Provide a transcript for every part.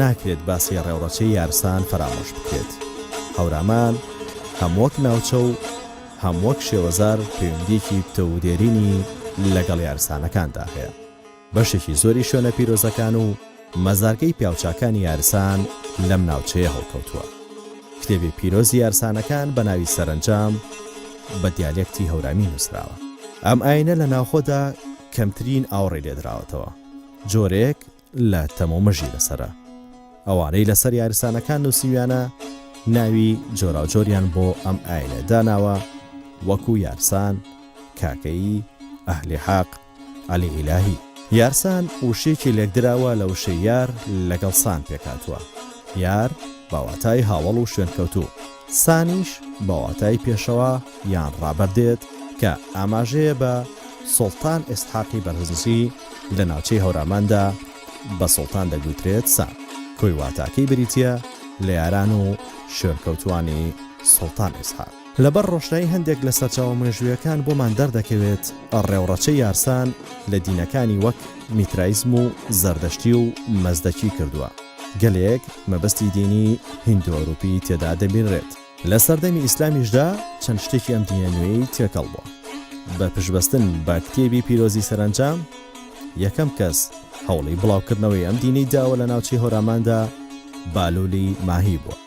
ناکرێت باسی ڕێوڕەچەی یارسان فەرامۆش بکرێت. هەورامان هەم وەک ناوچە و هەم وەک شێوەزار پەیوەندییەکی پتەو و دێرینی لەگەڵ یارسانەکاندا هەیە. بەشێکی زۆری شوێنە پیرۆزەکان و مەزارگەی پیاوچاکانی یارسان لەم ناوچەیە هەڵکەوتووە. کتێبی پیرۆزی یارسانەکان بە ناوی سەرەنجام بە دیالێکتی هەورامی نووسراوە. ئەم ئایینە لە ناوخۆدا کەمترین ئاوڕی لێدراوەتەوە. جۆرێک لە تەم و مژی لەسەرە. ئەوانەی لەسەر یارسانەکان نووسیویانە ناوی جۆراوجۆریان بۆ ئەم ئاینە داناوە وەکو یارسان، کاکەیی، ئەهلی حەق، عەلی ئیلاهی. یارسان وشەیەکی لێکدراوە لە وشەی یار لەگەڵ سان پێکهاتووە، یار بە واتای هاوەڵ و شوێنکەوتوو. سانیش بە واتای پێشەوا یان ڕابەر دێت کە ئاماژەیە بە سوڵتان ئیسحاقی بەرزنجی، لە ناوچەی هەوراماندا بە سوڵتان دەگوترێت سان، کۆی واتاکەی بریتییە لە یاران و شوێنکەوتووانی سوڵتان ئیسحاق. لەبەر ڕۆشنایی هەندێک لە سەرچاوە مێژوویەکان بۆمان دەردەکەوێت ڕێوڕەچەی یارسان لە دینەکانی وەک میترایزم و زەردەشتی و مەزدەکی کردووە. گەلێک مەبەستی دینی هیندو ئەوروپی تێدا دەبینرێت. لە سەردەمی ئیسلامیشدا چەند شتێکی ئەم دینە نوێیەی تێکەڵ بووە. بە پشتبەستن بە کتێبی پیرۆزی سەرەنجام یەکەم کەس هەوڵی بڵاوکردنەوەی ئەم دینەی داوە لە ناوچەی هۆراماندا بالولی ماهی بووە.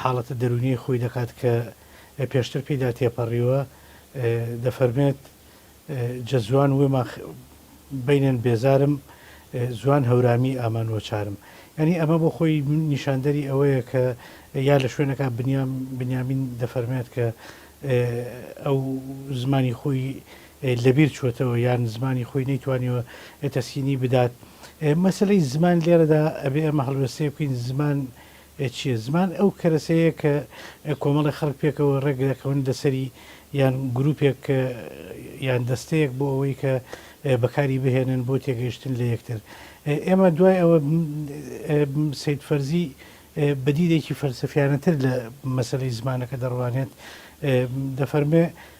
حاڵەتە دەروونیەی خۆی دەکات کە پێشتر پێیدا تێپەڕیوە، دەفەرمێت، جەزوان وێما بەینێن بێزارم، زوان هەورامی ئامان وەچارم. یانی ئەمە بۆ خۆی نیشاندەری ئەوەیە کە یا لە شوێنەکە بنیام بنیامین دەفەرمێت کە ئەو زمانی خۆی لەبیر چووەتەوە یان زمانی خۆی نەیتوانیوە تەسکینی بدات. مەسەلەی زمان لێرەدا ئەبێ ئەمە هەڵوێستەیە بکەین زمان ئێ چیە؟ زمان ئەو کەرەسەیە کە کۆمەڵێ خەڵک پێکەوە ڕێک دەکەون لەسەری یان گروپێک یان دەستەیەک بۆ ئەوەی کە بەکاری بهێنن بۆ تێگەیشتن لە یەکتر. ئێمە دوای ئەوە سەید فەرزی بە دیدێکی فەلسەفیانەتر لە مەسەلەی زمانەکە دەڕوانێت. دەفەرموێ.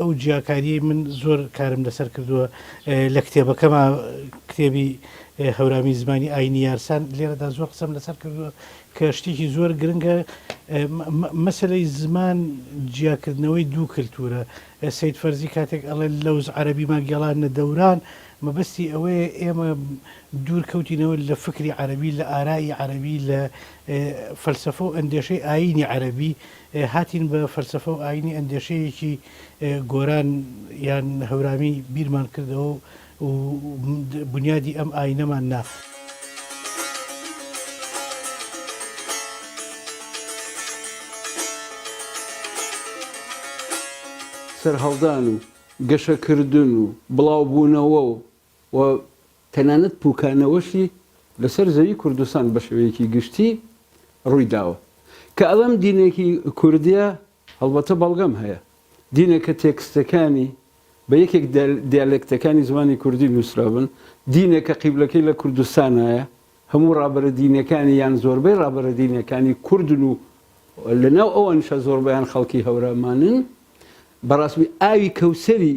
ئەو جیاکاریەی من زۆر کارم لەسەر کردووە لە کتێبەکەما کتێبی هەورامی زمانی ئاینی یارسان لێرەدا زۆر قسەم لەسەر کردووە کە شتێکی زۆر گرنگە مەسلەی زمان جیاکردنەوەی دوو کللتورە سید فەرزی کاتێک ئەڵێ لەوز عەربی ما گێڵان نە دەوران مەبەستی ئەوەیە ئێمە دوور کەوتینەوە لە فکری عەربی لە ئارایی عەربی لە فەلسفە و ئەندێشەی ئاینی عەربی هاتین بە فەلسەفە و ئایینی ئەندێشەیەکی گۆران یان هەورامی بیرمان کردەوە و بونیادی ئەم ئایینەمان نا. سەرهەڵدان و گەشەکردن و بڵاوبوونەوە و و تەنانەت پوکانەوەشی لەسەر زەوی کوردستان بەشێوەیەکی گشتی ڕویداوە. کە ئەڵێم دینێکی کوردیە هەڵبەتە بەڵگەم هەیە. دینێکە تێکستەکانی بە یەکێک دیالێکتەکانی زمانی کوردی نوسرابن، دینێکە قیبلەکەی لە کوردستانایە، هەموو ڕابەرە دینیەکانی یان زۆربەی ڕابەرە دینیەکانی کوردن و لەناو ئەوانیشا زۆربەیان خەڵکی هەورامانن. بەڕاستی ئاوی کەوسەری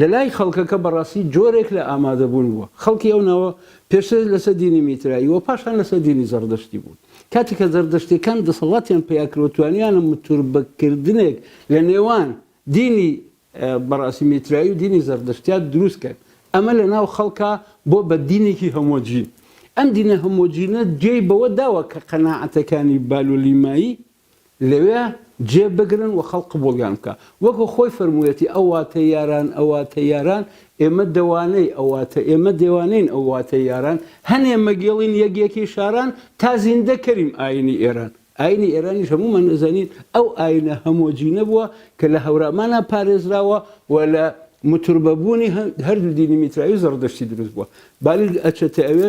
لەلای خەڵکەکە بەڕاستی جۆرێک لە ئامادەبوون بووە. خەڵکی ئەو ناوە پێشتر لەسەر دینی میترایی و پاشان لەسەر دینی زەڕدەشتی بوون. کاتێک کە زەردەشتییەکان دەسەڵاتیان پەیا کرد و توانیانە متوربەکردنێک لە نێوان دینی بەڕاستی میترایی و دینی زەردەشتیا دروست کرد، ئەمە لە ناو خەڵکا بووە بە دینێکی هۆمۆجین. ئەم دینە هۆمۆجینە جێی بەوە داوە کە قەناعەتەکانی بالولیمایی لەوێ جێ بگرن و خەڵک قبوڵیان بکا. وەکو خۆی فەرموویەتی، ئەواتە یاران، ئەواتە یاران، ئێمە دەوانەی، ئەواتە ئێمە دێوانەین، ئەواتە یاران، هەنێ مەگێڵین یەک یەکی شاران، تا زیندە کەریم ئایینی ئێران. ئایینی ئێرانیش هەموومان دەزانین ئەو ئایینە هەمۆجینە بووە کە لە هەورامانا پارێزراوە و لە متوربە بوونی هەردوو دینی میترایی و زەڕدەشتی دروست بووە. بالیک ئەچێتە ئەوێ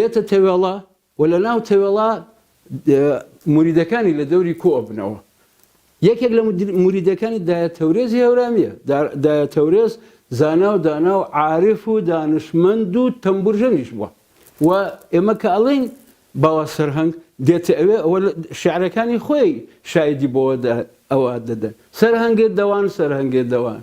یەتە تەوێڵە و لە ناو تەوێڵە موریدەکانی لە دەوری کۆ ئەبنەوە. یەکێک لە موریدەکانی دایە تەورێزی هەورامییە. دایە تەورێز زانا و دانا و عارف و دانشمەند و تەمبورژەنیش بووە و ئێمە کە ئەڵێین باوا سەرهەنگ دێتە ئەوێ ئەوە شێعرەکانی خۆی شایدی بۆوە ئەوە دەدەن. سەرهەنگێ دەوان سەرهەنگێ دەوان.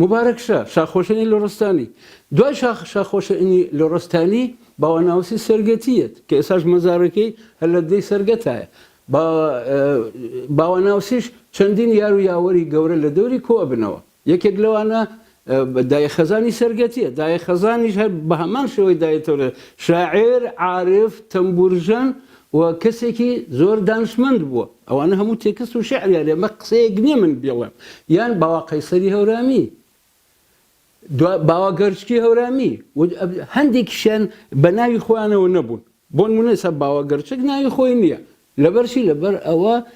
موبارەک شا، شاخۆشێنی لۆڕستانی، دوای شاخ شاخۆشێنی لۆڕستانی، باوە ناوەسی سەرگەتی یەت، کە ئێساش مەزارەکەی هەر لە ددەی سەرگەتایە. با باوە ناوسیش چەندین یار و یاوەری گەورە لە دەوری کۆ ئەبنەوە. یەکێک لەوانە دایە خەزانی سەرگەتییە. دایە خەزانیش هەر بە هەمان شێوەی دایە تەورێز، شاعیر، عارف، تەمبوورژەن، و کەسێکی زۆر دانشمەند بووە. ئەوانە هەموو تێکست و شیعریان هەیە، ئەمە قسەیەک نییە من بیڵێم. یان باوا قەیسەری هەورامی، دوا باوا گەرچکی هەورامی و هەندێکیشیان بە ناوی خۆیانەوە نەبوون. بۆنموونە ئێستا باوا گەرچک ناوی خۆی نییە. لەبەرچی؟ لەبەر ئەوە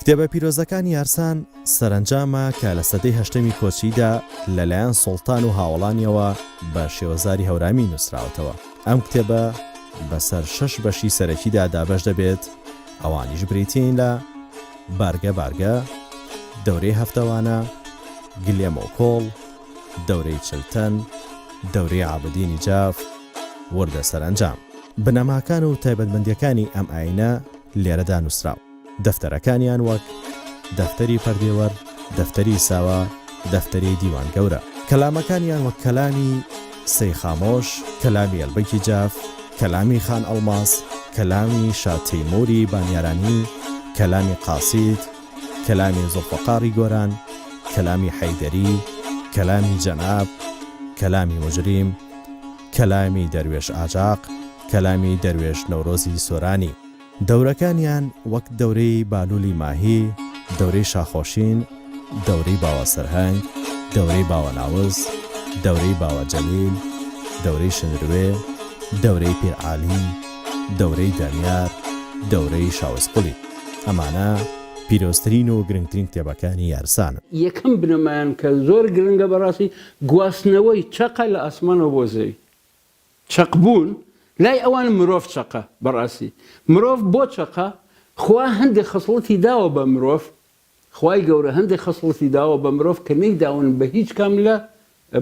کتێبە پیرۆزەکانی یارسان سەرەنجامە کە لە سەدەی هەشتەمی کۆچیدا لەلایەن سوڵتان و هاوەڵانیەوە بە شێوەزاری هەورامی نووسراوەتەوە. ئەم کتێبە بەسەر شەش بەشی سەرەکیدا دابەش دەبێت، ئەوانیش بریتین لە، بارگە بارگە، دەورەی هەفتەوانە، گلێم و کۆڵ، دەورەی چل تەن، دەورەی عابدینی جاف، وردە سەرەنجام. بنەماکان و تایبەتمەندییەکانی ئەم ئایینە لێرەدا نووسراوە. دەفتەرەکانیان وەک، دەفتەری پەردێوەر، دەفتەری ساوا، دەفتەری دیوان گەورە. کەلامەکانیان وەک کەلامی، سەی خامۆش، کەلامی ئەلبەکی جاف، کەلامی خان ئەڵماس، کەلامی شا تەیمووری بانیارانی، کەلامی قاسید، کەلامی زوڵفەقاڕی گۆران، کەلامی حەیدەری، کەلامی جەناب، کەلامی موجریم، کەلامی دەروێش ئاجاق، کەلامی دەروێش نەورۆزی سۆرانی. دەورەکانیان وەک دەورەی بالولی ماهی، دەورەی شاخۆشین، دەورەی باوە سەرهەنگ، دەورەی باوە ناوز، دەورەی باوە جەلیل، دەورەی شنروێ، دەورەی پیر عالی، دەورەی دانیار، دەورەی شاوز قولی. ئەمانە پیرۆزترین و گرنگترین کتێبەکانی یارسانن. یەکەم بنەمایان کە زۆر گرنگە بەڕاستی، گواستنەوەی چەقە لە ئاسمانەوە بۆ زەوی. چەق بوون لای ئەوان مرۆڤ چەقە بەڕاستی مرۆڤ بۆ چەقە خوا هەندێ خەسڵەتی داوە بە مرۆڤ خوای گەورە هەندێ خەسڵەتی داوە بە مرۆڤ کە نەیداون بە هیچ کام لە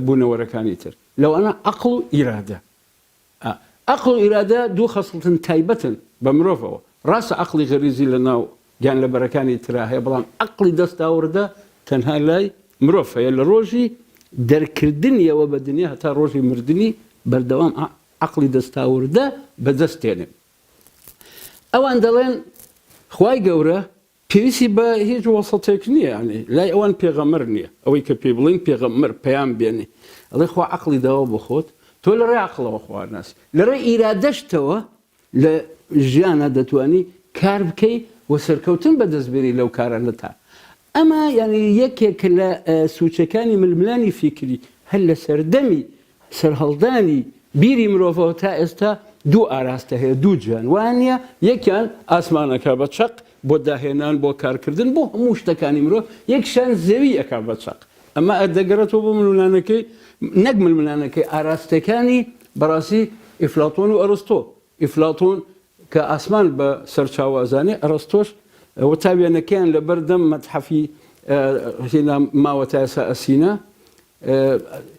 بونەوەرەکانی تر لەوانە عەقڵ و ئیرادە ئا عەقڵ و ئیرادە دوو خەسڵتن تایبەتن بە مرۆڤەوە ڕاستە عەقڵی غەریزی لە ناو گیانلەبەرەکانی ترا هەیە بەڵام ئەقڵی دەستاوردە تەنها لای مرۆڤ هەیە لە ڕۆژی دەرکردنیەوە بە دنیا هەتا ڕۆژی مردنی بەردەوام ئەقڵی دەستاوردە بەدەست دێنێ ئەوان دەڵێن خوای گەورە پێویستی بە هیچ وەسەتێک نییە یعنی لای ئەوان پێغەمەر نییە ئەوەی کە پێی بڵین پێغەمەر پەیام بێنێ ئەڵێ خوا عقلی داوە بۆ خۆت تۆ لە ڕێ عقلەوە خواناسی لە ڕێ ئیرادەشتەوە لە ژیانا دەتوانی کار بکەی و سەرکەوتن بەدەست بێنی لەو کارانە تا ئەمە یانی یەکێک لە سوچەکانی ململانی فیکری هەر لە سەردەمی سەرهەڵدانی بیری مرۆڤەوە تا ئێستا دوو ئاراستە هەیە دوو جوێن وانە یەکیان ئاسمانەکە بە چەق بۆ داهێنان بۆ کارکردن بۆ هەموو شتەکانی مرۆڤ یەکشان زەوی ئەکا بە چەق ئەمە دەگەڕێتەوە بۆ ململانەکەی، نەک ململانەکەی، ئاراستەکانی بەڕاستی ئیفلاتۆن و ئەرستۆ. ئیفلاتۆن کە ئاسمان بە سەرچاوە ئەزانێ، ئەرستۆش ئەوە تا وێنەکەیان لە بەردەم مەتحەفی هێنا ماوە تا ئێستا ئەسینا،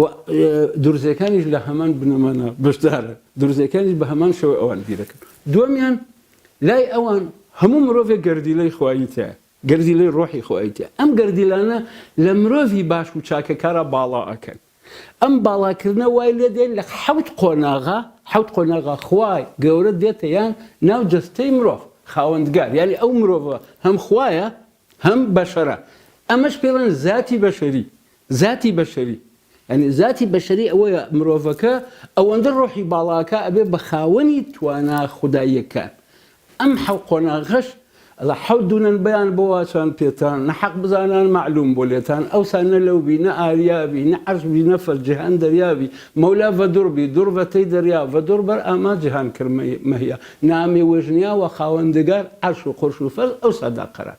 و دورزەکانیش لە هەمان بنەمانا بەشدارە، دورزەکانیش بە هەمان شێوە ئەوان بیرەکەن. دووەمیان، لای ئەوان هەموو مرۆڤێک گەردیلەی خوایی تیایە، گەردیلەی رۆحی خوایی تیایە، ئەم گەردیلانە لە مرۆڤی باش و چاکەکارا باڵا ئەکەن، ئەم باڵاکردنە وای لێ دێن لە حەوت قۆناغا، حەوت قۆناغا خوای گەورە دێتە یان ناو جەستەی مرۆڤ، خاوەندگار، یانی ئەو مرۆڤە هەم خوایە هەم بەشەرە، ئەمەش پێڵێن زاتی بەشەری، زاتی بەشەری یانی زاتی بەشەری ئەوەیە مرۆڤەکە ئەوەندە ڕۆحی باڵاکا ئەبێ بە خاوەنی توانا خوداییەکان ئەم حەو قۆناغەش ئەڵا حەو دونەن بیان بۆ واچان پێتان نە حەق بزانان مەعلوم بۆ لێتان ئەوسا نە لەو بی نە ئاریا بی نە عەرش بی نە فەر جیهان دەریا بی مەولا ڤە دور بی دور ڤە تەی دەریا ڤە دور بەر ئاما جیهان کر مەهیا نامێ وێژنیا وە خاوەندگار عەرش و قورش و فەرز ئەوسا دا قەرار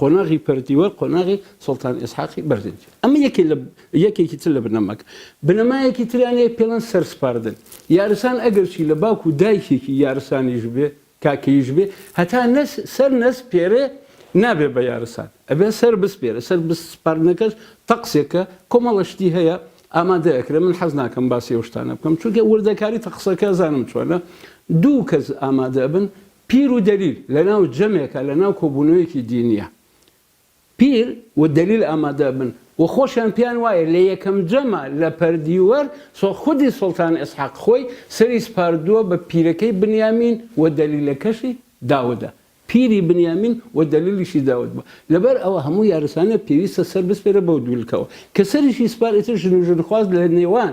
قۆناغی پەرتیوە قۆناغی سوڵتان ئیسحاقی بەردینجە ئەمە یەکێ لە یەکێکی تر لە بنەماکە بنەمایەکی تریان هەیە پێڵێن سەرسپاردن یارسان ئەگەرچی لە باوک و دایکێکی یارسانیش بێ کاکەییش بێ هەتا نەس سەر نەس پێرێ نابێ بە یارسان ئەبێ سەر بسپێرێ سەر بسپاردنەکەش تەقسێکە کۆمەڵە شتی هەیە ئامادە ئەکرێ من حەز ناکەم باسی ئەو شتانە بکەم چونکە وردەکاری تەقسەکە زانم چۆنە دوو کەس ئامادە بن پیر و دەلیل لە ناو جەمێکە لە ناو کۆبوونەوەیەکی دینییە پیر و دەلیل ئامادە بن و خۆشیان پێیان وایە لە یەکەم جەمە لە پەردیوەر سۆ خودی سوڵتان ئیسحاق خۆی سەری سپاردووە بە پیرەکەی بنیامین و دەلیلەکەشی داودە پیری بنیامین و دەلیلیشی داود بووە لەبەر ئەوە هەموو یارسانە پێویستە سەر بسپێرە بەو دوو لکەوە کە سەریشی سپار ئیتر ژن و ژنخواز لە نێوان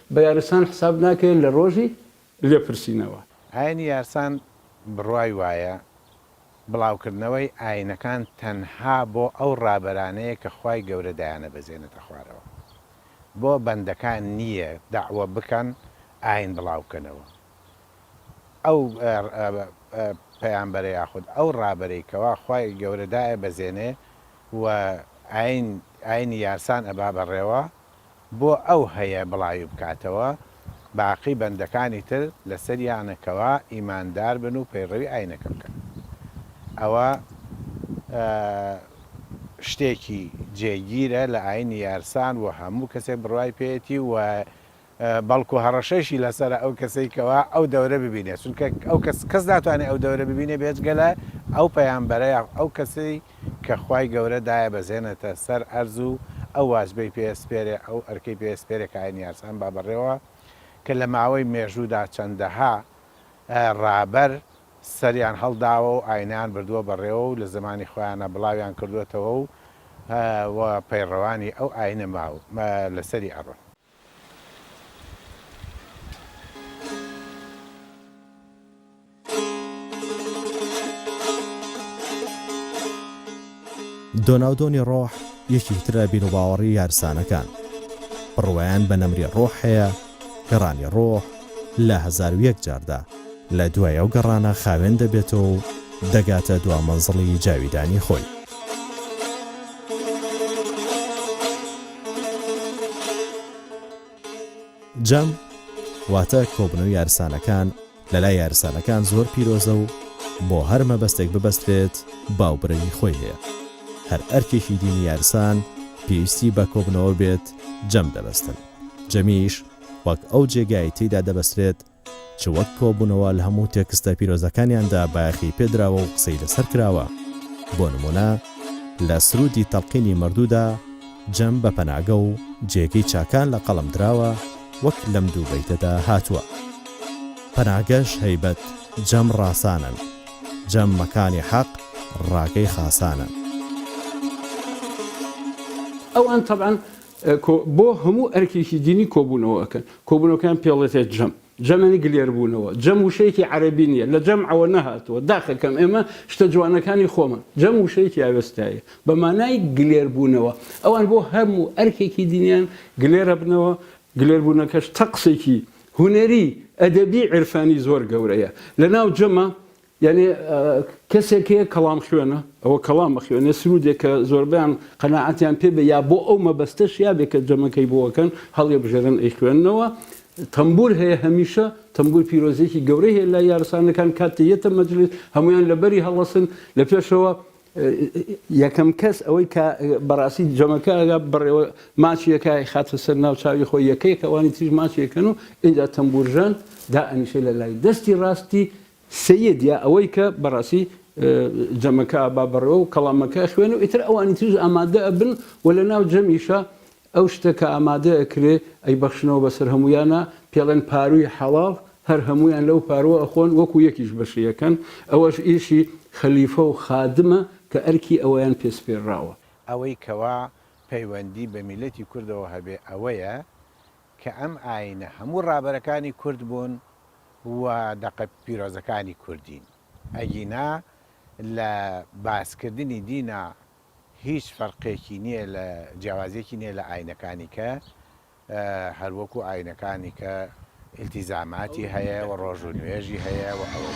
بە یارسان حساب ناکرێت لە ڕۆژی لێپرسینەوە. ئاینی یارسان بڕوای وایە بڵاوکردنەوەی ئاینەکان تەنها بۆ ئەو ڕابەرانەیە کە خوای گەورە دایانەبەزێنێتە خوارەوە بۆ بەندەکان نییە دەعوە بکەن ئاین بڵاوبکەنەوە ئەو پەیامبەرە یاخود ئەو ڕابەرەی کەوا خوای گەورە دایەبەزێنێ و ئاین ئاینی یارسان ئەبا بەڕێوە بۆ ئەو هەیە بڵاوی بکاتەوە، باقی بەندەکانی تر لەسەریانە کەوا ئیماندار بن و پەیڕەوی ئاینەکە بکەن. ئەوە شتێکی جێگیرە لە ئاینی یارسان و هەموو کەسێک بڕوای پێیەتی و بەڵکو هەڕەشەیشی لەسەرە ئەو کەسەی کەوا ئەو دەورە ببینێت، چونکە ئەو کەس کەس ناتوانێت ئەو دەورە ببینێت بێجگە لە ئەو پەیامبەرە یاخود ئەو کەسەی کە خوای گەورە دایەبەزێنێتە سەر ئەرز و ئەو واجبەی پێسپێرێ ئەو ئەرکەی پێسپێرێ کە ئاینی یارسان با بەڕێوە کە لە ماوەی مێژوودا چەندەها ڕابەر سەریان هەڵداوە و ئاینیان بردووە بەڕێوە و لە زەمانی خۆیانا بڵاویان کردووەتەوە و پەیڕەوانی ئەو ئاینە ماو لەسەری ئەڕۆن. دۆناودۆنی ڕۆح یەکی ترە بیرروباوەڕی یارسانەکان بڕوایان بە نەمری ڕۆح هەیە گەڕانی ڕۆح لە هزار و یەک جاردا لە دوای ئەو گەڕانە خاوێن دەبێتەوە و دەگاتە دوا مەنزڵی جاویدانی خۆی جەم، واتە کۆبنەوەی یارسانەکان، لەلای یارسانەکان زۆر پیرۆزە و بۆ هەر مەبەستێک ببەسترێت باوبرەوی خۆی هەیە. هەر ئەرکێکی دینی یارسان پێویستی بە کۆبنەوە بێت جەم دەبەستن. جەمیش وەک ئەو جێگای تێیدا دەبەسترێت، چ وەک کۆبوونەوە لە هەموو تێکستە پیرۆزەکانیاندا بایەخی پێدراوە و قسەی لەسەر کراوە، بۆ نموونە لە سروودی تەڵقینی مەردوودا جەم بە پەناگە و جێگەی چاکان لە قەڵەم دراوە وەک لەم دوو بەیتەدا هاتووە پەناگەش هەیبەت جەم ڕاسانن جەم مەکانی حەق ڕاگەی خاسانن. ئەوان تەبعەن کۆ بۆ هەموو ئەرکێکی دینی کۆبوونەوە ئەکەن کۆبوونەوەکەیان پێڵێتێت جەم جەم یانی گلێر بوونەوە جەم وشەیەکی عەرەبی نیە لە جەمعەوە نەهاتووە داخەکەم ئێمە شتە جوانەکانی خۆمان جەم وشەیەکی ئاوێستایە بە مانای گلێر بوونەوە ئەوان بۆ هەموو ئەرکێکی دینیان گلێرە بنەوە گلێر بوونەکەش تەقسێکی هونەری ئەدەبی عیرفانی زۆر گەورەیە لە ناو جەمە یانی کەسێک هەیە کەڵام خوێنە ئەوە کەڵام بخوێنێ سروودێک کە زۆربەیان قەناعەتیان پێ بێ یا بۆ ئەو مەبەستە شیابێ کە جەمەکەی بۆەکەن هەڵێ بژێرن ئەی خوێنەوە تەمبور هەیە هەمیشە تەمبور پیرۆزێکی گەورەی هەیە لە یارسانەکان کاتێ یەتە مەجلس هەمویان لەبەری هەڵەسن لە پێشەوە یەکەم کەس ئەوەی کە بەڕاستی جەمەکە ئەگا بڕێوە ماچیەکە خاتە سەر ناو چاوی خۆی یەکەیەکەوانی تریش ماچیەکەن و اینجا تەمبورژان دا ئەنیشە لە لای دەستی ڕاستی سەیید یا ئەوەی کە بەڕاستی جەمەکە ئابا بەڕێوە و کەڵامەکە ئەخوێنێ و ئیتر ئەوانی تریش ئامادە ئەبن و لە ناو جەمیشا ئەو شتە کە ئامادە ئەکرێ ئەیبەخشنەوە بەسەر هەموویانا پێڵێن پارووی حەڵاڵ هەر هەموویان لەو پارووە ئەخۆن وەکوو یەکیش بەشی ئەکەن ئەوەش ئیشی خەلیفە و خادمە کە ئەرکی ئەویان پێ سپێرراوە. ئەوەی کەوا پەیوەندی بە میللەتی کوردەوە هەبێ ئەوەیە کە ئەم ئاینە هەموو ڕابەرەکانی کورد بوون و دەقە پیرۆزەکانی کوردین ئەگینا لە باسکردنی دینا هیچ فەرقێکی نیە لە جیاوازیەکی نیە لە ئاینەکانی کە هەر وەکو ئاینەکانی کە ئیلتیزاماتی هەیە و ڕۆژ و نوێژی هەیە و ئەوە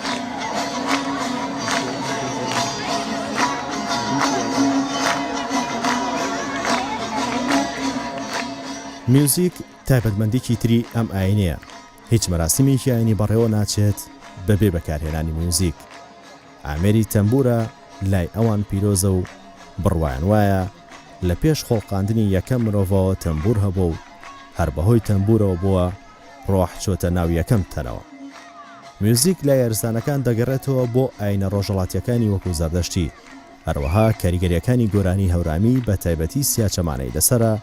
میوزیک تایبەتمەندیکی تری ئەم ئاینەیە، هیچ مەراسیمێکی ئاینی بەڕێوە ناچێت بەبێ بەکارهێنانی میوزیک. ئامێری تەمبورە لای ئەوان پیرۆزە و بڕوایان وایە لە پێش خۆڵقاندنی یەکەم مرۆڤەوە تەمبور هەبووە و هەر بەهۆی تەمبورەوە بووە ڕۆح چۆتە ناو یەکەم تەنەوە. میوزیک لای ئەرزدانەکان دەگەڕێتەوە بۆ ئاینە ڕۆژەڵاتییەکانی وەکو زەردەشتی، هەروەها کاریگەرییەکانی گۆرانی هەورامی بە تایبەتی سیاچەمانەی لەسەرە،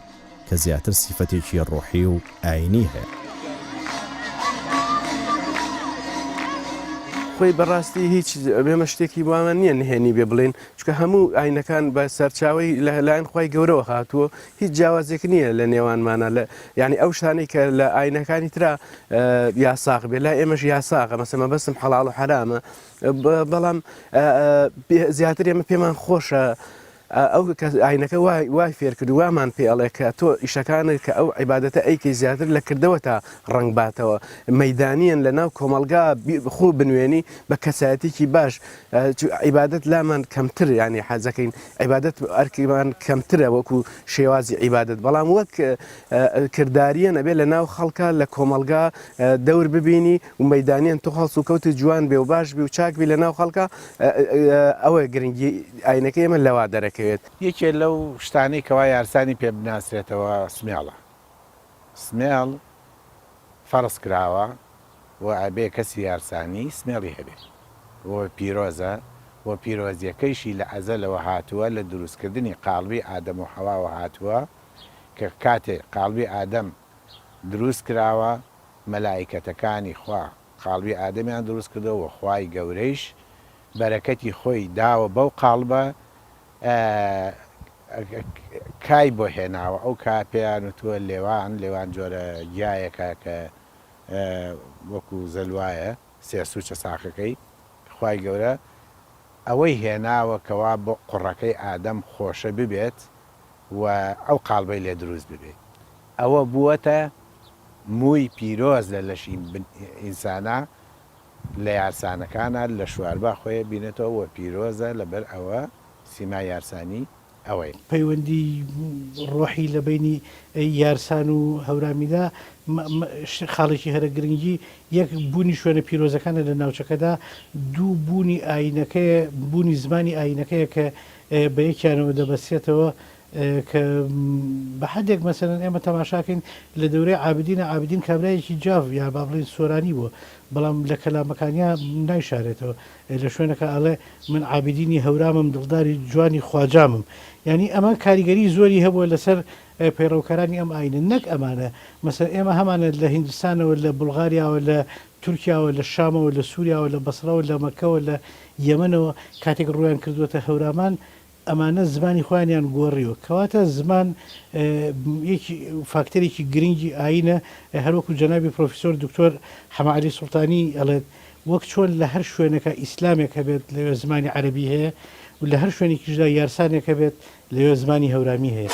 کە زیاتر سیفەتێکی ڕۆحی و ئایینی هەیە. خۆی بەڕاستی هیچ ئێمە شتێکی وامان نییە نهێنی بێ بڵێن، چونکە هەموو ئاینەکان بە سەرچاوەی لە لایەن خوای گەورەوە هاتووە، هیچ جیاوازێک نییە لە نێوانمانە لە یعنی ئەو شتانەی کە لە ئاینەکانی ترا یاساغ بێ لای ئێمەش یاساغە مەسە مەبەستم حەڵاڵ و حەرامە بەڵام زیاتر ئێمە پێمان خۆشە ئەو کە ئاینەکە وای وای فێر کرد و وامان پێ ئەڵێ کە تۆ ئیشەکانت کە ئەو عیبادەتە ئەیکەی زیاتر لە کردەوەتە ڕەنگ باتەوە مەیدانییەن لە ناو کۆمەڵگا بی خۆ بنوێنی بە کەسایەتیکی باش چ عیبادەت لامان کەمتر یانی حەزەکەین عیبادەت ئەرکیمان کەمترە وەکو شێوازی عیبادەت بەڵام وەک کردداریە نەبێ لە ناو خەڵکە لە کۆمەڵگا دەور ببینی و مەدانیان تۆ هەڵسو کەوتی جوان بێ و باش بی و چاک بی لە ناو خەڵکە ئەوە گرنگی ئاینەکەی ئێمە لەوە دەرەکەوێت. یەکێ لەو شتانەی کەوا یارسانی پێ بناسرێتەوە سمێڵە سمێڵ فەڕز کراوە و ئەبێ کەسی یارسانی سمێڵی هەبێ و پیرۆزە و پیرۆزیەکەیشی لە ئەزەلەوە هاتووە لە دروستکردنی قاڵبی ئادەم و حەواوە هاتووە کە کاتێ قاڵبی ئادەم دروست کراوە مەلائیکەتەکانی خوا قاڵبی ئادەمیان دروست کردوە وە خوای گەورەیش بەرەکەتی خۆی داوە بەو قاڵبە کای بۆ هێناوە ئەو کا پێیان وتوە لێوان لێوان جۆرە گیایەکە کە وەکو زەلوایە سێ سوچە ساقەکەی خوای گەورە ئەوەی هێناوە کەوا بۆ قوڕەکەی ئادەم خۆشە ببێت و ئەو قاڵبەی لێ دروست ببێ ئەوە بووەتە مووی پیرۆز لە لەشی ئینسانا لە یارسانەکانا لە شواربا خۆێ بینێتەوە وە پیرۆزە لە بەر ئەوە سیمای یارسانی ئەوەیە. پەیوەندی ڕۆحی لە بەینی یارسان و هەورامیدا خاڵێکی هەرە گرنگی یەک بوونی شوێنە پیرۆزەکانە لە ناوچەکەدا دوو بوونی ئاینەکەیە بوونی زمانی ئاینەکەیە کە بە یەکیانەوە دەبەستێتەوە کە بە حەدێک مەسەلەن ئێمە تەماشاکەین لە دەورەی عابدینە عابدین کابرایەکی جاف یا با بڵێین سۆرانی بووە بەڵام لە کەلامەکانیا نایشارێتەوە لە شوێنەکە ئەڵێ من عابدینی هەورامم دڵداری جوانی خواجامم ینی ئەمە کاریگەری زۆری هەبووە لەسەر پەیڕەوکارانی ئەم ئاینە نەک ئەمانە مەسەر ئێمە هەمانە لە هندستانەوە لە بلغاریاوە لە تورکیاوە لە شامەوە لە سووریاوە لە بەسرەوە لە مەکەوە لە یەمەنەوە کاتێک ڕویان کردووەتە هەورامان ئەمانە زمانی خۆیانیان گۆڕیوە کەواتە زمان یەکی فاکتەرێکی گرنگی ئاینە هەروەکو جەنابی پرۆفیسۆر دکتۆر حەمە عەلی سوڵتانی ئەڵێت وەک چۆن لە هەر شوێنەکە ئیسلامێک هەبێت لەوێ زمانی عەرەبی هەیە و لە هەر شوێنێکیشدا یارسانێک هەبێت لەوێ زمانی هەورامی هەیە.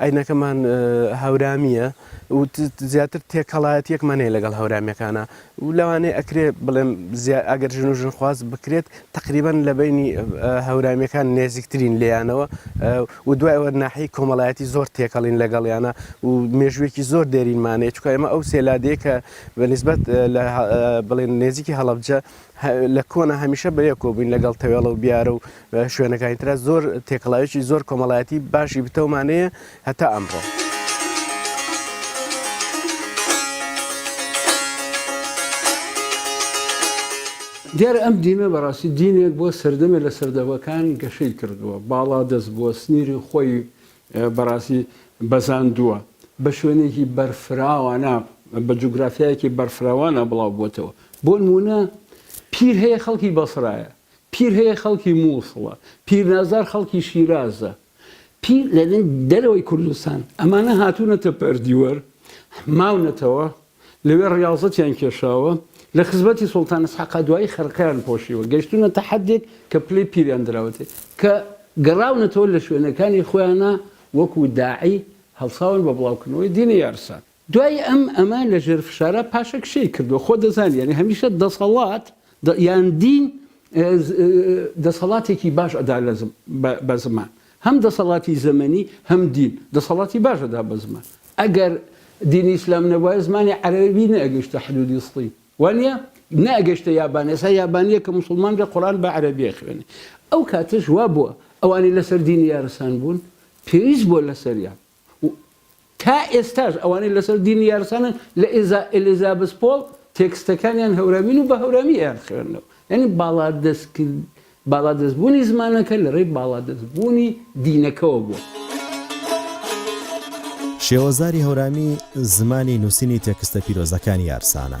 ئاینەکەمان هەورامییە و زیاتر تێکەڵایەتیەکمان هەیە لەگەڵ هەورامیەکانە و لەوانەیە ئەکرێ بڵێم ئەگەر ژن و ژنخواز بکرێت تقریبان لە بینی هەورامیەکان نێزیکترین لێیانەوە و دوایەوە ناحی کۆمەڵایەتی زۆر تێکەڵین لەگەڵیانە و مێژوێکی زۆر دێرینمانەیە چکە ئێمە ئەو سێلادەیە کە بە نسبەت بڵێن نێزیکی هەڵبجە لە کۆنا هەمیشە بە یەک کۆبووین لەگەڵ تەوێڵە و بیارە و شوێنەکانی تررا زۆر تێکەڵاوێکی زۆر کۆمەڵایەتی باشی بتەومانەیە هەتا ئەمڕۆ. دیارە ئەم دینە بەڕاستی دینێک بووە سەردەمێ لە سەردەمەکان گەشەی کردووە، باڵادەست بووە، سنیری خۆی بەڕاستی بەزاندووە، بە شوێنێکی بەرفراوانە، بە جوگرافیایەکی بەرفراوانە بڵاو بووەتەوە. بۆنموونە پیر هەیە خەڵکی بەسرایە، پیر هەیە خەڵکی مووسڵە، پیرنازار خەڵکی شیرازە، پیر لە دەرەوەی کوردستان، ئەمانە هاتوونەتە پەردیوەر، ماونەتەوە، لەوێ ڕیاضەتیان کێشاوە لە خزمەتی سوڵتان ئیسحاقا دوایی خرقەیان پۆشیوە گەیشتوونەتە حەدێک کە پلەی پیریان دراوەتێ کە گەڕاونەتەوە لە شوێنەکانی خۆیانا وەکو داعی هەڵساون بە بڵاوکردنەوەی دینی یارسان دوای ئەم ئەمە لە ژێر فشارا پاشەک شێی کردوە خۆ دەزانی یانی هەمیشە دەسەڵات یان دین دەسەڵاتێکی باش ئەدا بە زمان. هەم دەسەڵاتی زەمەنی هەم دین دەسەڵاتی باش ئەدا بە زمان ئەگەر دینی ئیسلام نەبوایە زمانی عەرەبی نەئەگەیشتە حدودی سڵی وانیە؟ نەئەگەشتە یابانی ئێسا یابانیە کە موسڵمان بێ قورئان بە عەرەبی ئەخوێنێ ئەو کاتەش وابووە ئەوانی لەسەر دینی یارسان بوون پێویست بووە لەسەریان و تا ئێستاش ئەوانەی لەسەر دینی یارسانن لە ئێزا ئێلیزابس پۆڵ تێکستەکانیان هەورامین و بە هەورامی ئەیان خوێننەوە یانی باڵادەست کرد باڵادەست بوونی زمانەکە لە ڕێی باڵادەست بوونی دینەکەوە بووە. شێوەزاری هەورامی زمانی نووسینی تێکستە پیرۆزەکانی یارسانە.